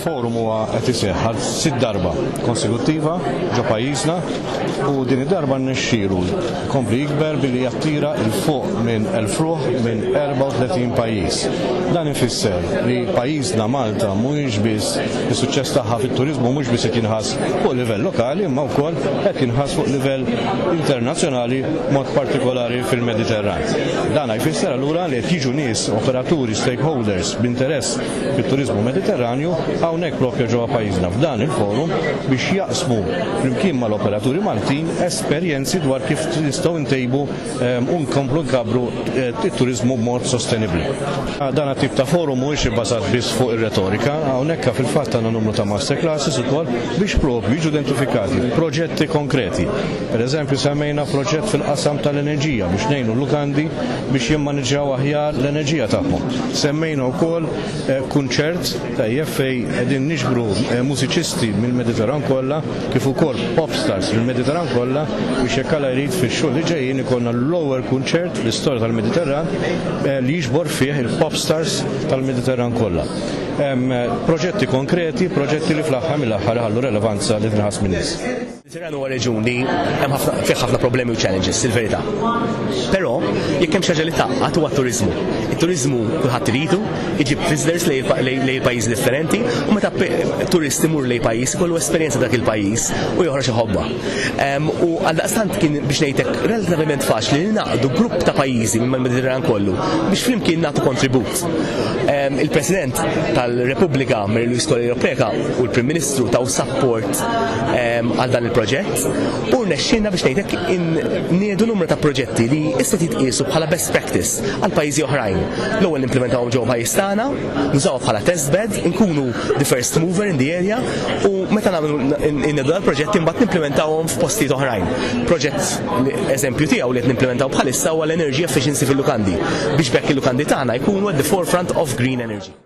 forum huwa qed iseħħ għal sitt darba konsekuttiva ġo pajjiżna u din id-darba nnexxielu kompli jikber billi jattira il fuq minn elf ruħ minn 34 pajjiż. Dan ifisser li pajjiżna Malta mhuwiex biss is-suċċess tagħha fit-turiżmu mhux biss qed jinħass fuq livell lokali imma wkoll qed jinħass fuq livell internazzjonali mod partikolari fil-Mediterran. Dan jfisser allura li qed jiġu nies operaturi, stakeholders, b'interess fit-turiżmu Mediterranju hawnhekk proprja ġewwa pajjiżna f'dan il-forum biex jaqsmu flimkien mal-operaturi Maltin esperjenzi dwar kif nistgħu ntejbu u nkomplu nkabbru t-turiżmu b'mod sostenibbli. Dan it-tip ta' forum mhuwiex ibbażat biss fuq ir-retorika, hawnhekk fil-fatt għandna numru ta' masterclasses ukoll biex proprju jiġu identifikati proġetti konkreti Pereżempju, semmejna proġett fil-qasam tal-enerġija biex ngħinu l-lukandi biex jimmaniġġjaw aħjar l-enerġija tagħhom. Semmejna wkoll eh, kunċert tajjeb fejn qegħdin niġbru eh, mużiċisti mill-Mediterran kollha kif ukoll pop stars mill-Mediterran kollha biex jekk għala jrid fix-xhur li ġejjin ikollna l-ewwel kunċert fl-istorja tal-Mediterran eh, li jiġbor fih il-pop stars tal-Mediterran kollha. Proġetti konkreti, proġetti li fl-aħħar mill-aħħar ħallu relevanza li tnaħas min-nies. Mediterranu huwa reġun li hemm ħafna fih ħafna problemi u challenges, il-verità. Però jekk hemm xi ħaġa li taqgħad huwa t-turiżmu. It-turiżmu kulħadd iridu, iġib visitors lejn pajjiżi differenti u meta turist imur lejn pajjiż ikollu esperjenza dak il-pajjiż u joħroġ iħobba. U għal daqstant kien biex ngħidlek relattivament faċli li naqdu grupp ta' pajjiżi minn mediterran kollu biex flimkien nagħtu kontribut. Il-President tal-Repubblika Mary Louise Kolli u l-Prim Ministru taw sapport għal dan il-proġett u rnexxina biex ngħidlek niedu numru ta' proġetti li issa titqiesu bħala best practice għal pajjiżi oħrajn. L-ewwel implementawhom ġew pajjiż tagħna, nużaw bħala test bed, inkunu the first mover in the area u meta nagħmlu niedu dal-proġetti mbagħad nimplementawhom f'postijiet oħrajn. Proġett eżempju tiegħu li qed nimplementaw bħalissa huwa l-energy efficiency fil-lukandi biex bekk il-lukandi tagħna jkunu at the forefront of green energy.